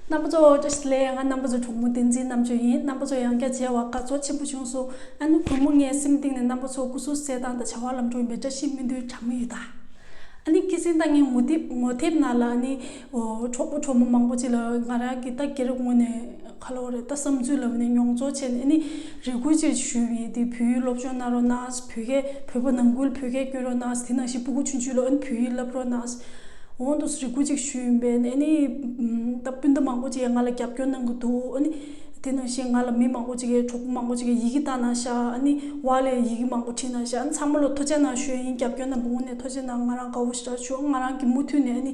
རྣམ་པ་ཚོ་ཨོ་ཅོ་ཞིག་ལས་ང་རྣམ་པ་ཚོ་གྲོགས་མོ་བསྟན་འཛིན་རྣམ་དཔྱོད་ཡིན་རྣམ་པ་ཚོ་ཡང་བསྐྱར་མཇལ་བ་དགའ་ཚོར་ཆེན་པོ་བྱུང་སོང་ཨ་ནུ་བུ་མོ་ངའི་སེམས་གཏིང་ནས་རྣམ་པ་ཚོ་སྐུ་གཟུགས་གསལ་ཐང་དང་བྱ་བ་ལམ་འགྲོ་ཡིན་པའི་བཀྲ་ཤིས་སྨོན་འདུན་གྲངས་མེད་ཡོད་ད། ཨ་ནི་སྐད་གསེང་དང་ངའི་ངོ་དེབ་ངོ་དེབ་ནང་ལ་ཨ་ནི་གྲོགས་པོ་གྲོགས་མོ་མང་པོ་ཅིག་ལ་ང་རང་གིས་རྟ་འགྱེལ་རབས་ངོ་ནས་ཁ་ལོ་རེད་ད་བསམ་ཚུལ་ལབ་ནས་མྱོང་ཚོར་བྱས་ནས་ནི་རེ་ཁུལ་ཅིག་ཞུས་ཡིན་དེ་བོད་ཡུལ་སློབ་སྦྱོང་གནང་རོགས་གནང་བོད་སྐད་བོད་པ་ནང་ཁུལ་བོད་སྐད་བསྐྱོན་རོགས་གནང་དེ་ནང་བཞིན་སྤུ་གུ་ཆུན་ཆུན་ལ་ཨ་ནི་བོད་ཡིག་བསླབ་རོགས་གནང་འོང་དུ་རེ་ཁུལ་ཅིག་ཞུས་ཡིན་པས་ཨ་ནི་ད་སྤུན་ཟླ་མང་པོ་ཅིག་ང་ལ་རྒྱབ་སྐྱོར་གནང་གི་འདུག་ཨ་ནི་དེ་ནང་བཞིན་ང་ལ་མི་མང་པོ་ཅིག་གིས་གྲོགས་པོ་མང་པོ་ཅིག་གིས་ཡི་གེ་བཏང་གནང་ཤག་ཨ་ནི་ཝང་ལས་ཡི་གེ་མང་པོ་བྲིས་གནང་ཤག་ཨ་ནི་ཚང་མ་ལ་ཐུགས་ཆེ་གནང་ཞུས་ཡིན་རྒྱབ་སྐྱོར་རྣམས་པ་ངོ་ནས་ཐུགས་ཆེ་གནང་ང་རང་དགའ་བོ་ཞེ་དྲག་བྱུང་ང་རང་གིས་མུ་མཐུད་ནས་ཨ་ནི།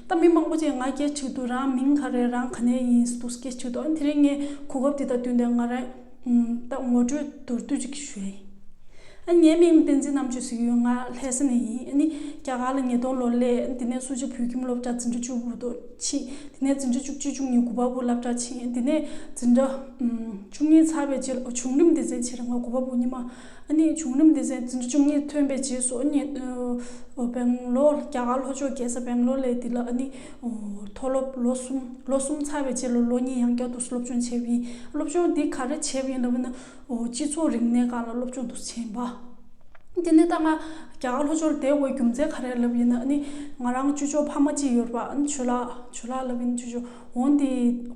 ད་མི་མང་པོ་ཅིག་ང་སྐྱེས་ཕྱིར་དུ་རང་མིང་ག་རེད་རང་ག་ནས་ཡིན་འདུག་སྐད་ཕྱིར་དུ་ཨང་དེ་རིང་ངས་གོ་སྐབས་འདི་དག་བསྟུན་ཏེ་ང་རང་ད་ངོ་སྤྲོད་མདོར་བསྡུས་ཅིག་ཞུ་ཡ་ཡིན། ངའི་མིང་བསྟན་འཛིན་རྣམ་དཔྱོད་ཟེར་ཡོད་ང་ལྷ་ས་ནས་ཡིན་ནི་རྒྱ་གར་ལ་ཉིས་སྟོང་ལོར་སླེ་དེ་ནས་སུ་ཇཱ་བོད་ཁྱིམ་སློབ་གྲྭ་འཛིན་གྲྭ་བཅུ་བོ་དོ་ཕྱིན་དེ་ནས་འཛིན་གྲྭ་བཅུ་གཅིག་བཅུ་གཉིས་དགུ་པ་བོ་བསླབ་གྲྭ་ཕྱིན་དེ་ནས་འཛིན་གྲྭ་བཅུ་གཉིས་ཚར་བའི་རྗེས་ལ་བྱུང་རིམ་འདི་ཟིན་ཕྱིར་ང་དགུ་པ་བོ་གཉིས་མ་གནས་བྱུང་རིམ་དེ་ཚེས་བཅུ་གཉིས་ཐོན་པའི་རྗེས་སུ་སྦེང་ལོར་རྒྱ་གར་ལྷོ་ཕྱོགས་རྒྱལ་ས་སྦེང་ལོར་ལས་འདི་ལ་མཐོ་སློབ་ལོ་གསུམ་ལོ་གསུམ་ཚར་བའི་རྗེས་ལོ་གཉིས་ཡང་བསྐྱར་དུ་སློབ་སྦྱོང་བྱས་པ་ཡིན་སློབ་སྦྱོང་འདི་ག་རེ་བྱས་པ་ཡིན་ལབ་ན་སྤྱི་ཚོགས་རིག་གནས་ཁག་ལ་སློབ་སྦྱོང་དུ་བྱས་པ་དེ་ནས་ད་སྔ་རྒྱ་གར་ལྷོ་ཕྱོགས་ལ་བསྡད་དགོས་རྒྱུ་མཚན་ག་རེ་ལབ་ཡིན་ན་ནི་ང་རང་ཅུ་ཅོ་ཕ་མ་གཅིག་ཡོད་པ་ཆོས་ལགས་ལབ་ཡིན་ཆུ་ཅོ། འོན་ཏེ་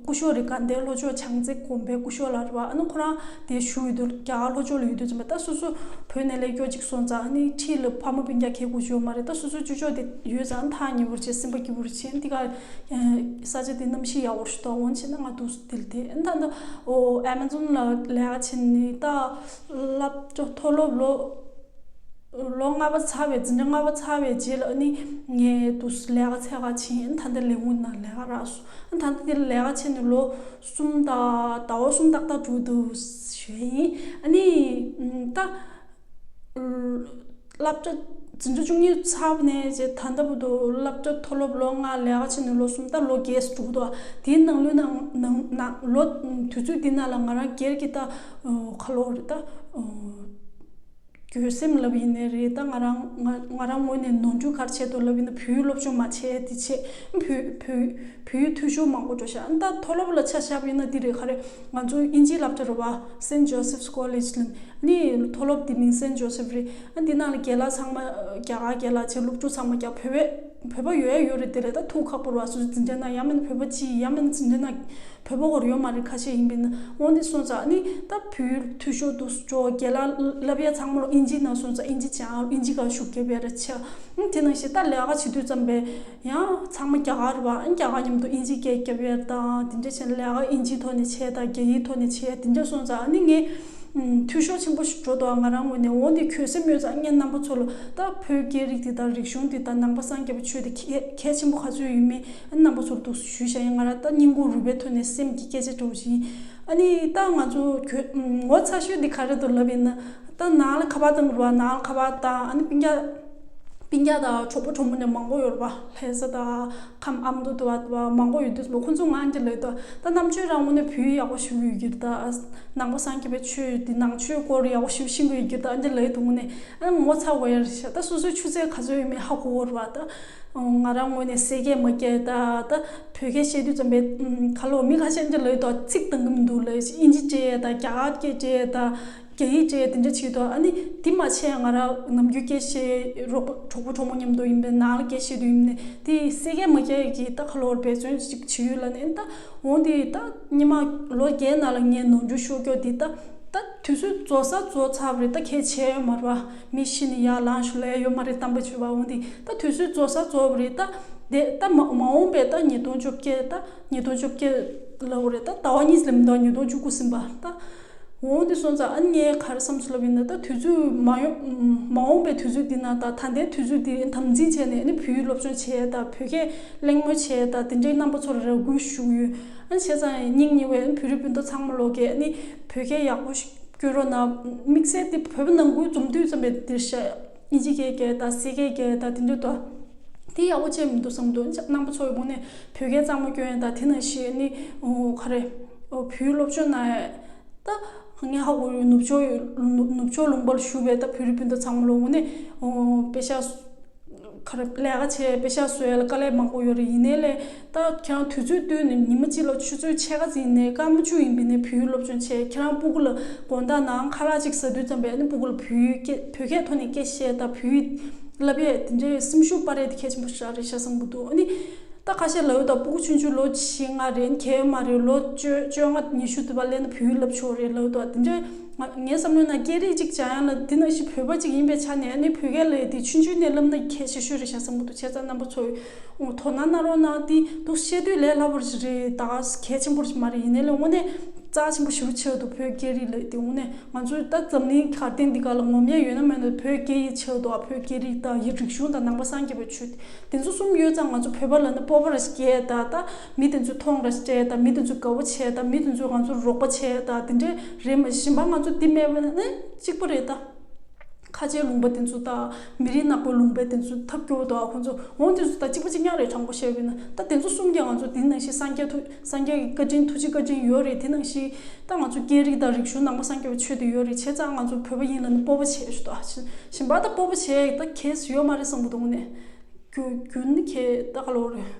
སྐུ་ཞོགས་རི་ཀར་འདས་ལྷོ་ཕྱོགས་བྱང་རྩེ་གོམ་པའི་སྐུ་ཞོགས་ལ་རེ་བ་ཨ་ནུ་ཁོ་རང་དེ་བཞུགས་ཡོད་དུ་རྒྱ་གར་ལྷོ་ཕྱོགས་ལ་ཡོད་དུ་ཅི་མ་ད་སོ་སོ་བོད་ནས་ལས་སྐྱོར་ཅིག་སོང་ཙང་ནི་ཁྲིད་ལ་ཕ་མ་བུ་རྒྱ་ཁའི་གོ་ཞོར་མ་རེད་ད་སོ་སོའི་བཅུ་ཕྱོགས་དེ་ཡོད་ཙང་ཐག་ཉེ་བོར་བྱས་སེམས་པ་སྐྱིད་པོར་བྱས་འདི་ག་ས་ཆ་དེ་གནམ་གཤིས་ཡག་བོར་ཞུ་དོགས་འོང་བྱས་ན་ང་དུས་སུ་དེ་ལ་དེ་ཨེ་འདའ་འདའ་ཨོ་ཨེ་མ་ཛོན་ལ་ལས་ཀ་བྱས་ནི་ད་སླབ་ཅོ་མཐོ་སློབ་ལོ། ལོ་ལྔ་པ་ཚར་བའི་འཛིན་གྲྭ་ལྔ་པ་ཚར་བའི་རྗེས་ལ་ནི་ངས་དུས་སུ་ལས་ཀ་ཚད་ཁག་བྱས་ཨ་མཐའ་འདིར་ལས་ངུ་ན་ལས་ཀ་རགས་སོང་ཨ་མཐའ་འདི་ལས་ཀ་བྱས་ནས་ལོ་གསུམ་ད་ལྟ་བ་གསུམ་ཏག་ཏག་དྲུག་འདུག་ཞེས་ཡིན་ཨ་ནི་ད་སླབ་གྲྭ་འཛིན་གྲྭ་བཅུ་གཉིས་ཚར་བ་ནས་རྗེས་ད་ལྟ་བུ་དུ་སླབ་གྲྭ་མཐོ་སློབ་ལོ་ལྔ་ལས་ཀ་བྱས་ནས་ལོ་གསུམ་ད་ལོ་བརྒྱད་སུ་འགྲོ་གི་འདུག་དེའི་ནང་ལོ་དུས་ཚོད་འདི་ན་ལ་ང་རང་སྒེར་གྱི་ད་ཁ་ལོ་རེད་ད་གྱོད་སེམས་ལབ་ཡིན་ནི་རེད་ད་ང་རང་ང་རང་ངོས་ནས་ནོར་འཁྲུལ་གར་བྱས་ཐོ་ལབ་ཡིན་ན་བུའི་སློབ་སྦྱོང་མ་བྱས་དེ་བྱས་བུ་བུ་བུའི་ཐུ་ཞོ་མང་པོ་འགྲོ་ཤ་ཨ་ད་ཐོ་སློབ་ལ་ཆ་ཞབས་ཡིན་ན་དེ་རེད་ཁ་རེད་ང་ཚོ་དབྱིན་ཇིའི་སླབ་གྲ་རུ་བ་སེན་ཇོ་སིབ་སྐོལེཇ་ལིན་ནི་ཐོ་སློབ་དེ་མིང་སེན་ཇོ་སིབ་རེད་ཨ་དེ་ནང་ལ་རྒྱལ་ལ་ཚང་མ་རྒྱ་གར་རྒྱལ་ལ་ཆེ་སློབ་ཕྲུག་ཚང་མ་རྒྱ་བོད་བས། བོད་པ་ཡོད་ཡ་ཡོད་རེད་དེ་རེད་ད་ཐུག་ཁག་པོར་བ་སུ་འཛིན་འདྲེ་ན་ཡ་མན་བོད་པ་སྤྱི་ཡ་མན་འཛིན་འདྲེ་ན་བོད་པ་བོར་ཡོད་མ་རེད་ཁ་ཤས་ཡིན་པའི་ན་འོ་འདི་སོང་ཙ་ནི་ད་བུའི་འཐུས་ཤོར་འདུག་སུ་ཇོ་རྒྱལ་ལ་ལབ་ཡ་ཚང་མ་ལོ་ཨིན་ཇི་ན་སོང་ཙ་ཨིན་ཇི་ཅང་ཨིན་ཇི་ག་ཞུགས་རྒྱབ་ཡ་རེད་ཆ་ཨིན་དེ་ན་ཤེས་ད་ལས་ཀ་བྱེད་དུས་ཙམ་པས་ཡ་ཚང་མ་རྒྱ་གར་བ་ཨིན་རྒྱ་གར་མཉམ་དུ་ཨིན་ཇི་སྐད་རྒྱབ་ཡ་རེད་ད་འདི་འདྲ་བྱས་ན་ལས་ཀ་ཨིན་ཇིའི་ཐོག་ནས་བྱས་ད་རྒྱ་ཡིའི་ཐོག་ནས་བྱས་ཡ་འདི་འདྲ་སོང་ཙ་ཨ་ནི་ངས། འཐུས་ཤོར་ཆེན་པོ་ཞིག་འགྲོ་འདུག་ང་རང་ངོས་ནས་འོ་ནི་ཁྱོད་སེམས་སྨོད་ཚངས་གཉན་རྣམ་པ་ཚོ་ལ་ད་བོད་སྐད་རིགས་འདི་དང་རིག་གཞུང་འདི་དང་ནང་པ་སངས་རྒྱས་པ་ཆོས་འདི་གལ་ཆེན་པོ་ག་ཚོད་ཡོད་མེད་རྣམ་པ་ཚོར་འདུག་ཞུས་བཞག་ཡིན་ང་རང་ད་སྙིང་ཁུང་རུས་པའི་ཐོད་ནས་སེམས་ཀྱི་སྐད་ཆ་འདྲི་བ་ཞིག་ཡིན་ཨ་ནི་ད་ང་ཚོ་ཁྱོད་ངོ་ཚ་ཤོས་འདི་ག་རེད་དུ་ལབ་ཡིན་ན་ད་ནང་ལ་ཁ་པར་དང་འགྲོ་བ་ནང་ལ་ཁ་པར་དང་ཨ་ནི་སྤིན་རྒྱག་སྤིན་རྒྱག་དང་གྲོགས་པོ་གྲོགས་མོ་ནས་མང་པོ་ཡོད་པ་ལྷན་ས་དང། ཁམས་ཨམ་དུ་དུ་བ་མང་པོ་ཡོད་དུས་མོ་ཁོ་ཚོ་ངང་གིས་ལོས་ཏོ། ད་རྣམ་ཆོས་རང་ངོ་ནས་བུ་ཡག་པོ་ཞིག་ཡོད་གིར་ད། ནང་པ་སངས་རྒྱས་པའི་ཆོས་ཡོད་དུས་ནང་ཆོས་སྐོར་ཡག་པོ་ཞིག་ཤེས་གི་ཡོད་གིར་ད་ཨ་ནི་ལོས་ཏོ་ངོ་ནས་ངོ་ཚ་གོ་ཡ་རེད་བྱ་ད་སོ་སོའི་ཆུ་ཚད་ག་ཚོད་ཡོད་མེད་ཧ་གོ་གོ་རོགས་ད། ང་རང་ངོ་ནས་ཟས་སྐད་མ་སྐྱེལ་ད་ད་བོད་སྐད་བཤད་དུས་ཙམ་པས་ཁ་ལོ་མི་ཁ་ཤས་ཨ་ནི་ལོས་ཏོ་ཚིག་གཏང་གི་མི་འདུག་ལོས་ཨིན་ཇི་སྐྱེལ་ཡས་ད་རྒྱ་གར་སྐད་སྐྱེལ་ཡས་ད། རྒྱ་ཡིག་ཅེས་དེ་འདྲ་བྱེད་དོ་ཨ་ནི་དེ་མ་བྱས་ང་རང་ནམ་རྒྱུན་སྐད་བཤད་རོགས་པ་གྲོགས་པོ་གྲོགས་མོ་མཉམ་དུ་ཡིན་པའི་ནང་ལ་སྐད་བཤད་དུ་ཡིན་ནི་དེ་སྲིད་སྐད་མ་སྐད་ཀྱི་རྟ་ཁ་ལོར་འབད་བརྩོན་ཅིག་བྱེད་ཡུལ་ལ་ནི་ཨེ་ལྟ་འོང་དེ་ད་སྙེ་མ་ལོ་བརྒྱད་ནང་ལ་ངས་ནོར་འཁྲུལ་ཤོར་སྐྱོ་དེ་ད་ད་དུས་ཚོད་རྫོགས་ས་རྫོགས་ཚར་བ་རེད་ད་ཁྱེད་བྱས་ཡོད་མ་རེད་བ་མི་ཤི་ནི་ཡར་ལངས་ཞུ་ལས་ཡོད་མ་རེད་གཏམ་པ་བྱོས་བ་འོང་དེ་ད་དུས་ཚོད་རྫོགས་ས་རྫོགས་བ་རེད་ད་དེ་ད་མ་མ་འོང་པའི་ད་ཉིས་སྟོང་བཅོ་བརྒྱད་ད་ཉིས་སྟོང་བཅོ་བརྒྱད་ལོ་རེད་ད་ད་བ་གཉིས་ལས་མི་འདའ་བ་ཉིས་སྟོང་བཅུ་དགུ་ཟིན་པ་ད། འོ་འདི་སོང་ཙང་ཨ་ནི་ངའི་ག་རེ་བསམ་ཚུལ་ལབ་ཡོད་ན་ད་དུས་ཚོད་མ་ཡོང་མ་འོངས་པའི་དུས་ཚོད་འདི་ན་ད་ད་ལྟའི་དུས་ཚོད་འདི་དམ་འཛིན་བྱས་ནས་ཨ་ནི་བུའི་སློབ་སྦྱོང་བྱས་ད་བོད་སྐད་གླེང་མོལ་བྱས་ད་དེ་འདྲའི་རྣམ་པ་ཚོར་རེ་སྒུག་བཞུགས་ཡོད་ཨ་ནི་བྱས་ཙང་སྙིང་ཉེ་བའི་ཨ་ནི་བོད་རིགས་སྤུན་ཟླ་ཚང་མ་ལོག་གི་ཨ་ནི་བོད་སྐད་ཡག་པོ་ཞིག་བསྐྱོན་རོགས་གནང་དམིགས་བསལ་འདི་བོད་པ་ནང་ཁུལ་འཛོམས་དུས་ཙམ་པའི་འདིར་བཤད། གཉིས་ཀྱིས་ཀའི་རྒྱལ་དང་སྲིད་ཀའི་རྒྱལ་དང་དེ་འདུལ་ཏོ། དེ་ཡང་དབུ་ཅན་མི་འདུག་བསམ་དུ་སྣང་པོ་ཚོགས་ཀྱི་དགུང་ནས་བུ་སྐལ་གཙང་མ་སྐྱོན་དང་དེ་ན་ཞེས་ནི། ག་རེ། བུའི་སློབ་ཆོས་ན་ད། ངའི་ཧ་གོ་རུའི་ནུབ་ཕྱོགས་ནུབ་ཕྱོགས་ལུང་པར་བཞུགས་པའི་ད་བུ་རི་སྤུན་ཟླ་ཚང་མ་ལོ་ངོ་ནས། དཔེ་ཆ། ག་རེ་ལས་ཀ་བྱས་དཔེ་ཆ་བཟོས་ཀ་ལས་མང་པོ་ཡོད་རེད་ཡིན་ནའི་ལས། ད་ཁྱང་དུས་ཚོད་བསྟུན་ནས་ཉི་མ་གཅིག་ལ་ཆུ་ཚོད་ཕྱེད་ཀ་ཟིན་ནས་སྐར་མ་བཅུ་ཡིན་པའི་ནས་བོད་ཡུལ་སློབ་སྦྱོང་བྱས་ཁྱེད་རང་སྤུ་གུ་ལ་དགོངས་དག་ནའང་ཁ་ལག་གཅིག་ཟ་དུས་ཙམ་པས་ནས་སྤུ་གུ་ལ་བོད་ཡུལ་སྐད་བོད་སྐད་ཐོག་ནས་སྐད་བཤད་ད་བོད་ཡུལ་ལབ་ཡས་དེ་འདྲའི་སེམས་ཤུགས་དཔའ་རས་དེ་ཁྱད་ཆེན་པོ་ཞག་རེད་ཤ་བཟང་པོ་འདུག་ཨ་ནི། ད་ཁ་ཤས་ལ་ཡོད་ད་སྤུ་གུ་ཆུང་ཆུང་ལོ་བཞི་ལྔ་རེད་ཁྱད་ཡོད་མ་རེད་ལོ་བཅོ་བཅོ་ལྔ་ཉི་ཤུ་དེ་བ་སླེབས་ན་བོད་ཡུལ་ལབ་ཆོག་རེད་ལ་ཡོད་དེ་འདྲའི་ངའི་བསམ་བློའི་ནང་སྐད་རིགས་གཅིག་བྱ་ཡང་ལ་དེ་ནང་བཞིན་བོད་པ་གཅིག་ཡིན་པའི་ཆ་ནས་ཨ་ནི་བོད་སྐད་ལ་ཡོད་དེ་ཆུང་ཆུང་ནས་ལབ་ན་ཁྱད་ཆེ་ཤོས་རེད་ཤ་བཟང་པོ་འདུག་ཁྱེད་ཚང་རྣམ་པ་ཚོ་ངོ་ཐོག་ན་ན་རོ་ན་ཏི་འདུག་བཤད་དུས་ལས་སླ་པོ་རེད་ད་གལ་ཆེན་པོ་རེ་མ་རེད་ཡིན་ན་ལས་དངོས་གནས་རྩ་ཆེན་པོ་ཞུ་རུ་ཆེ་བ་འདུག་བོད་སྐད་རིགས་ལས་དེ་དངོས་གནས་ང་ཚོའི་ད་འཛམ་གླིང་གར་སྟེང་འདི་ག་ལ་ངོམ་ཡས་ཡོད་ན་མོད་ན་བོད་སྐད་ཡིད་ཆེས་འདུག་བོད་སྐད་རིགས་དང་ཡི་རིག་གཞུང་དང་ནང་པ་སངས་རྒྱས་པའི་ཆོས་དེ་ཚོ་གསུམ་ཡོད་ཙང་ང་ཚོ་བོད་པ་ལ་ན་སྤོབས་པ་རེ་སྐྱེས་ད་ད་མི་དེ་ཚོས་མཐོང་རེ་སྤྲད་ད་མི་དེ་ཚོས་དགའ་བོ་བྱས་ད་མི་དེ་ཚོས་ང་ཚོར་རོགས་པ་བྱས་ད་དེ་འདྲས་རེད་མ་གཞི་འབའ་ང་ཚོ་འདི་མེད་པ་ནི་གཅིག་པོ་རེད་ད། ཁ་ཆེའི་ལུང་པ་དེ་ཚོ་དང་མི་རིགས་ནག་པོའི་ལུང་པའི་དེ་ཚོ་ཐབས་སྐྱོ་བོ་འདུག་ཨ་ཁོ་ཚོ་འོང་དེ་ཚོ་དང་གཅིག་པ་གཅིག་ཉག་རེད་དྲང་པོ་བཤད་དགོས་ན་ད་དེ་ཚོ་གསུམ་གྱིས་ང་ཚོ་དེ་ནང་བཞིན་སངས་རྒྱས་ཐུགས་སངས་རྒྱས་ཀྱི་བཀའ་དྲིན་ཐུགས་རྗེ་བཀའ་དྲིན་ཡོད་རེད་དེ་ནང་བཞིན་ད་ང་ཚོ་སྐད་རིགས་དང་རིག་གཞུང་ནང་པ་སངས་རྒྱས་པ་ཆོས་དེ་ཡོད་རེད་བྱས་ཙང་ང་ཚོ་བོད་པ་ཡིན་ལ་ནི་སྤོབས་པ་བྱས་ཤོག་ད་བཞིན་པ་ད་སྤོབས་པ་བྱས་ད་གལ་ཡོད་མ་རེད་བསམ་པོ་འདུག་ནས་རྒྱུ་རྒྱུ་ནི་ཁྱེད་ད་ག་ལོར་རེད་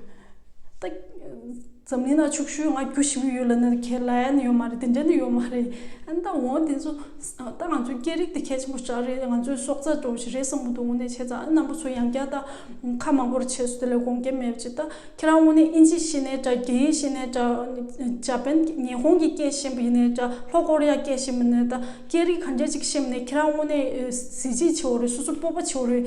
ད། འཛམ་གླིང་ན་ཕྱུག་ཤོས་ང་རྒྱུ་ཞིག་ཡོད་ལ་ནི་ཁེ་ལན་ཡོད་མ་རེད་དེ་འདྲ་ནི་ཡོད་མ་རེད་ཨན་ད་འོང་དེ་ཚོ་ད་ང་ཚོའི་སྐད་རིགས་དེ་གལ་ཆེན་པོ་ཅག་རེད་ང་ཚོའི་སྲོག་རྩ་འགྲོ་བ་ཞིག་རེད་བསམ་བློ་དུ་དངོས་གནས་བྱས་ཙང་ཨན་ནམ་པོ་ཚོ་ཡང་བསྐྱར་ད་ཁ་མང་པོར་བྱས་སོ་དེ་ལས་དགོངས་སྐྱེལ་མེད་ཅེ་ད་ཁྱེད་རང་དངོས་གནས་ཨིན་ཇི་ཤེས་ནས་འདྲ་རྒྱ་ཡིག་ཤེས་ནས་འདྲ་ཇཱ་པན་ཉི་ཧོང་གི་སྐད་ཤེས་མ་ཡིན་ནས་འདྲ་ལྷོ་ཀོ་རི་ཡ་སྐད་ཤེས་མ་ཡིན་ནས་ད་སྐད་རིགས་ག་འདྲ་ཅིག་ཤེས་མ་ནས་ཁྱེད་རང་དངོས་གནས་གཟི་བརྗིད་ཆེ་བོ་རེད་སོ་སོ་སྤོབས་པ་ཆེ་བོ་རེད།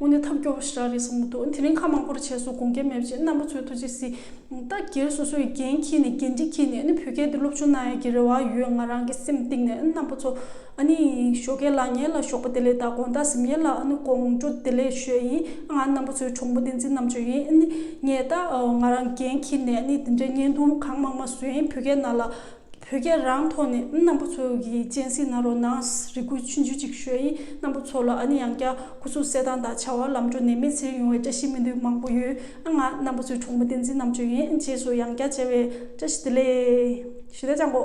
དངོས་གནས་ཐབས་སྐྱོ་བོ་ཞིག་རག་རེད་བསམ་གྱི་འདུག་དེ་རིང་ཁ་མང་པོ་རེ་བྱས་སོང་དགོངས་འགལ་མེད་པ་ཅིག་རྣམ་པ་ཚོའི་ཐུགས་རྗེ་གཟིགས། ད་སྒེར་སོ་སོའི་འགན་འཁྱེར་ནས་འགན་འཁྲི་འཁྱེར་ནས་ནི་བོད་སྐད་འདི་སློབ་སྦྱོང་གནང་ཡག་གི་རེ་བ་ཡོད་ང་རང་གི་སེམས་གཏིང་ནས་རྣམ་པ་ཚོ་ཨ་ནི་ཞོ་ཁའི་ལག་ཉལ་ལ་ཞོག་པ་དེ་ལས་ད་དགོངས་དག་ཟིམ་ཉལ་ལ་ཨ་ནི་དགོངས་འགྲོ་དེ་ལས་ཞོད་ཡིན་ང་རྣམ་པ་ཚོའི་གྲོགས་མོ་བསྟན་འཛིན་རྣམ་དཔྱོད་ཡིན་ཨ་ནི་ངས་ད་ང་རང་འགན་འཁྱེར་ནས་ནི་དེ་འདྲའི་བརྙན་ཐུང་གང་མང་མ་བཟོ་ཡིན་བོད་སྐད་ནང་ལ་བོད་རྒྱལ་རང་ཐོག་ནས་རྣམ་པོ་ཚོ་གི་སྤྱན་ཟིན་ན་རོ་ནངས་རི་ཁུལ་ཆུ་འཇུ་ཅིག་ཤོས་ཡིན་རྣམ་པོ་ཚོ་ལ་ཨ་ནི་ཡང་བསྐྱར་སྐུ་གཟུགས་གསལ་ཐང་དང་བྱ་བ་ལམ་འགྲོ་ནས་མི་ཚེར་ཡོང་བའི་བཀྲ་ཤིས་སྨོན་འདུན་མང་པོ་ཡོད་ཨ་ང་རྣམ་པོ་ཚོའི་གྲོགས་མོ་བསྟན་འཛིན་རྣམ་དཔྱོད་ཡན་རྗེས་སུ་ཡང་བསྐྱར་མཇལ་བའི་བཀྲ་ཤིས་བདེ་ལེགས་ཞུ་ད་ཅག་མགོ།